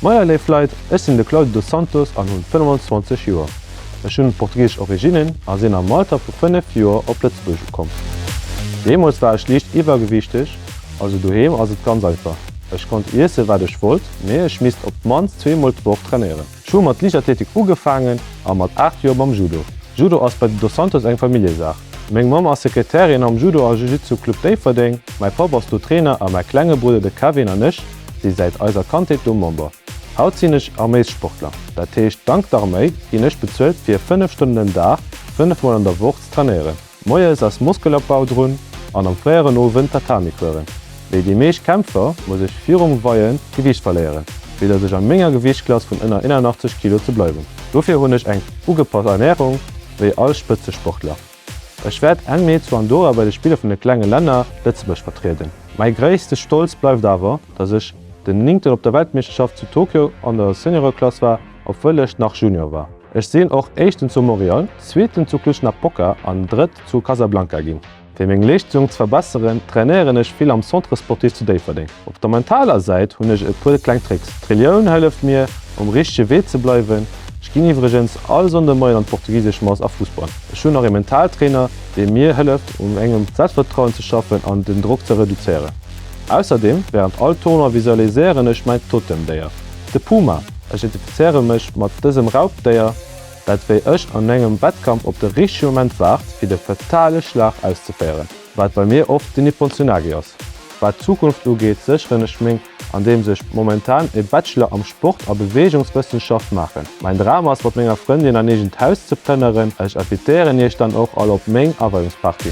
Moier léif Leit, ech sinn de Claudio dos Santos an hunn 25 Joer. Ech hunn portugisesch Originnen a sinn am Alter vu 5 Joer op Lëtzebuerg ukomm. Deemools war ech liicht iwwergewiichteg, also doheem ass et ganz einfach, ech konnt iessen wat ech wollt, mee ech misst op d'mannst zweemol d'Woch trainéieren. Ech hu mat Liichtathletik ugefaangen a mat 8 Joer mam Judo. Judo ass bei de Dos Santos eng Familljesaach. Meng Mamm ass Sekretärin am Judo a Jiu-Jitsu Club Déifferdeng, mäi Papp ass do Trainer a mäi klenge Brudder de Kevin an ech si säit eiser Kandheet do Member. Haut sinn ech Arméissportler, dat heescht dank d'Arméi ginn ech bezuelt fir 5 Stonnen den Dag, 5 mol an der Woch, ze trainéieren. Moies ass Muskelopbau drun an am fréieren Owend Tatami kueren. Wéi déi meescht Kämpfer muss ech virum Weien Gewiicht verléieren, fir dass ech a menger Gewiichtklass vun ënner 81 Kilo ze bleiwen. Dofir hunn ech eng ugepasst Ernärung, wéi all Spëtzesportler. Ech wäert Enn Mee zu Andorra bei de Spiller vun de klenge Länner Lëtzebuerg vertrieden. Mäi gréisste Stolz bleift awer, dass ech den Néngten op der Weltmeeschterschaft zu Tokio an der Seniore-Klass war. obwuel ech nach Junior war. Ech sinn och Éischten zu Montréal, Zweeten zu Cluj-Napoca an Drëtt zu Casablanca ginn. Fir meng Leeschtung ze verbesseren, trainéieren ech vill am Centre Sportif zu Déifferdeng. Op der mentaler Säit hunn ech e puer kleng Tricks. D'Relioun hëlleft mir, um richtege Wee ze bleiwen. Ech ginn iwwregens all Sonndemoien an d'portugisesch Mass a Fussball. Ech hunn nach ee Mentaltrainer, dee mir hëlleft, un mengem Selbstvertrauen ze schaffen an den Drock ze reduzéieren. Ausserdeem, wärend all Tournoi visualiséieren ech mäin Totemdéier. De Puma, ech identifizéiere mech mat dësem Raubdéier, dat wéi ech an engem Wettkampf op de richtege Moment waart, fir de fatale Schlag auszeféieren, wat bei mir oft den Nippon Tsunagi ass. Wat d'Zukunft ugeet, sécheren ech meng, andeems ech momentan e Bachelor am Sport a Beweegungswëssenschaft maachen. Mäin Dram ass, mat menger Frëndin en eegent Haus ze plënneren. Ech invitéieren Iech dann och all op meng Aweiungsparty.